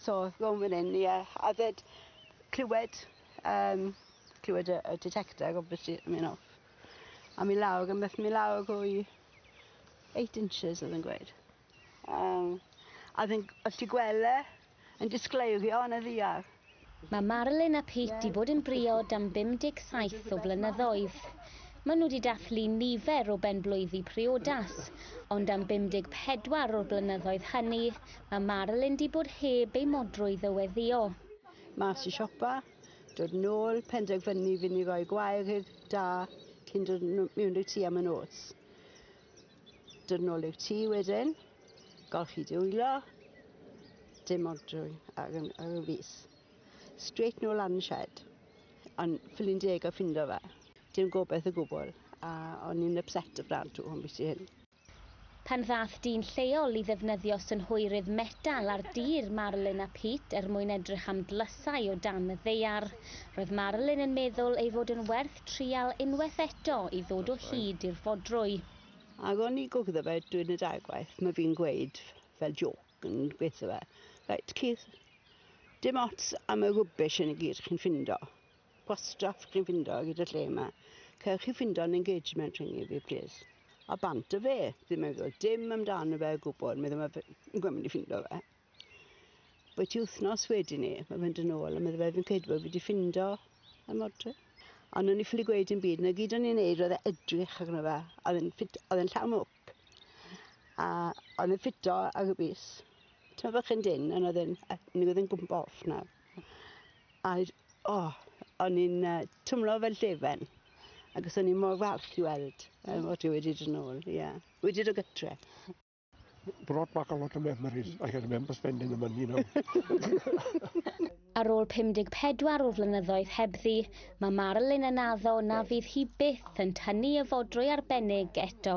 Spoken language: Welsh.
So rownd fan hyn ie a 'fyd clywed yym clywed y y detector obviously yn myn' off a myn' lawr a meth myn' lawr rhwy eight inches odd e'n gweud. Yym a fi'n g- os ti gwel' e yn disgleirio yn y ddiar. Mae Marilyn a Pete 'di bod yn briod am 57 o flynyddoedd. Maen nhw 'di dathlu nifer o ben-blwyddi priodas, ond am 54 o'r blynyddoedd hynny, Mae Marilyn di bod heb ei modrwy ddyweddïo. Mas i siopa, dod nôl, penderfynu fy ni roi gwair i'r da cyn dod mewn i'r tŷ am y nos. Dod nôl i'r tŷ wedyn, golchi dwylo, dim modrwy ar, ar y fus. Straight nôl lan y shed, ond ffili'n deg o ffindo fe. Dim gobeith o gwbl, a o'n i'n upset y brand tu hwn beth hyn. Pan ddaeth dyn lleol i ddefnyddio synhwyrydd metal ar dir Marilyn a Pete er mwyn edrych am dlysau o dan y ddaear, roedd Marilyn yn meddwl ei fod yn werth trial unwaith eto i ddod o hyd i'r fodrwy. Ac o'n i gwgddo fe drwy'r nedagwaith, mae fi'n gweud fel jôc yn gweitho fe, Reit Keith, dim ots am y rubbish hyn i gyd chi'n ffindo, Gwastraff chi'n ffindo gyda lle yma. Cewch chi ffindo yn engagement rhwng i fi, plis. A bant o fe, ddim yn meddwl dim amdano fe o gwbl, meddwl mae fe'n gwybod mynd i ffindo fe. Bwy ti wythnos wedyn ni, mae fe'n dyn ôl, a meddwl fe fi'n credu bod fi wedi ffindo y modryn. Ond o'n i ffili gweud yn byd, na gyd o'n i'n neud oedd e edrych arno fe, oedd e'n ffit, oedd e'n llawn mwc. A oedd e'n ffito ag y bus. Ti'n meddwl bod chi'n dyn, ond oedd e'n, oedd e'n gwmpa off nawr. A o, oh, o'n i'n uh, twmlo fel llefen. Ac os o'n i'n mor falch i weld um, o ti wedi dod nôl, ie. Yeah. Wedi dod gytre. Brought back a lot of memories. I can remember spending the money now. Ar ôl 54 o flynyddoedd hebddi, mae Marilyn yn addo na fydd hi byth yn tynnu y fodrwy arbennig eto.